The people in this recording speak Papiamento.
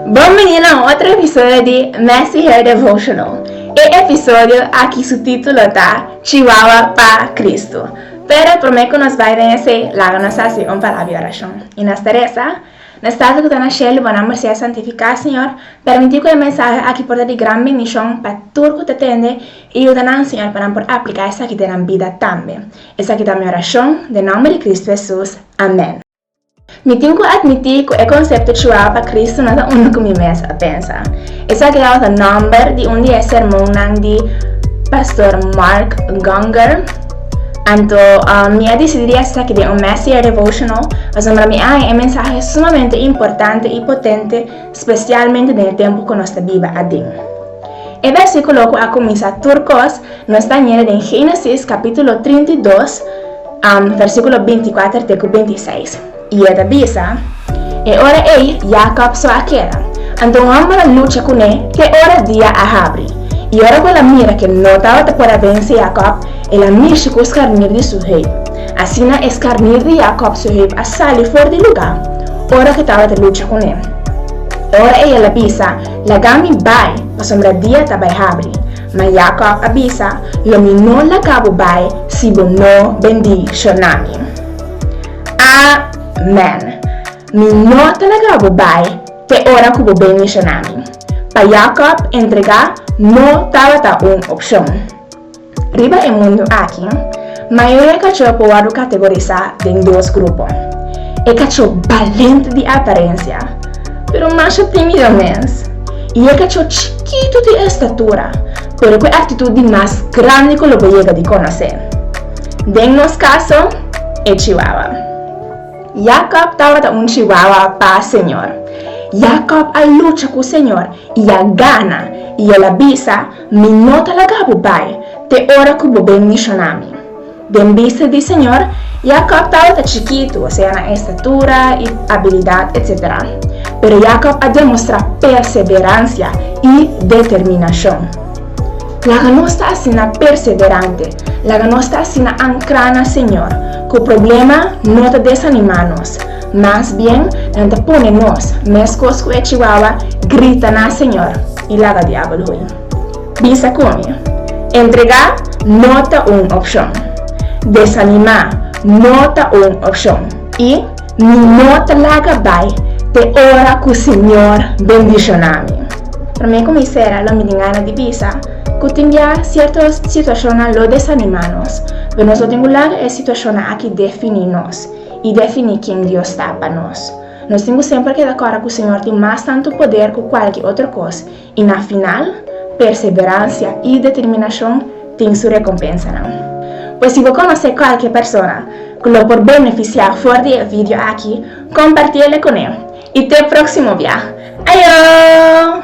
Bon bini na un otro episodio di Messy Hair Devotional. E episodio aki su titulo ta Chihuahua pa Cristo. Pero prome cu nos bay den esey, laga nos haci un palabra di oracion. Y nos ta reza, Na Stato cu ta na Shelu, bo nomber sea santifica, Señor. Permiti cu e mensahe aki por ta di gran bendicion pa tur cu ta tende, y yuda nan, Señor, pa nan por aplica esaki den nan bida tambe. Esaki ta mi oracion, den nomber di Cristo Jesus. Amen. Mi tin ku atmití ku e konsepto Chuwaba pa Kristu no ta unda ku mi mes a pensa. Esaki awor ta nòmber di un di e sermonnan di Pastor Mark Gungor. Anto, mi a disidí di hasi esaki den un Messier Devotional pasobra mi a haña e mensahe sumamente importante i potente, spesialmente den e tempu ku nos ta biba aden. E bèrsikulo ku a kuminsá tur kos, Nos ta ñera den Génesis capítulo trinta i dos, versículo binti kuater te ku binti seis, i e ta bisa, E ora ei Jakòb so a keda, anto un hòmber a lucha kuné te ora dia a habri. I ora ku el a mira ke no tabata por a bense Jakòb, el a mishi ku skarnir di su hèp. Asina e skarnir di Jakòb su hèp a sali for di lugá, ora ke tabata lucha kuné. E ora ei el a bisa, Laga mi bai, pasobra dia ta bai habri. Ma Jacob a bisa, Lo mi no la ca bo bai si bo no bendi shona mi. Amen! Mi no ta la ca bo bai te ora cu bo bendi shona mi. Pa Jacob entrega no tabata un opcion. Riba e mundu aki, Mayoria kachó por wòrdu kategorisá den dos grupo, e kachó balente di aparensia, pero masha tímido mes, i e kachó chikitu di estatura, pero ku e aktitut di mas grandi ku lo por yega di konosé. Den nos kaso, e chihuahua. Jakob tabata un chihuahua pa Señor. Jakob a lucha ku Señor i a gana, i el a bisa, Mi no ta laga bo bai te ora ku bo ben mishona mi. Den bista di Señor, Yakòb tabata chikitu, sea na estatura i abilidat etc. Pero Yakòb a demostrá perseveransia i determinashon. Laga nos ta asina perseverante, laga nos ta asina ankrá na Señor, ku problema no ta desanimá nos, Mas bien nan ta pone nos meskos ku e chihuahua grita na Señor i laga diabel hui. Bisa ku mi, Entregá no ta un opshon. Desanimá no ta un opshon i mi no ta laga bai te ora ku Señor bendishoná mi. Promé ku mi sera lo mi tin gana di bisa ku tin bia sierto situashonnan lo desanimá nos, pero nos no tin ku laga e situashonnan aki definí nos. i definí ken Dios ta pa nos. Nos tin ku semper keda kòrda ku Señor tin mas tantu poder ku kualke otro kos, i na final, perseberansia i determinashon tin su rekompensanan. Pues si bo konosé kualke persona ku lo por benefisiá for di e vidio aki, kompartí el kuné. I te próksimo bia! Ayo!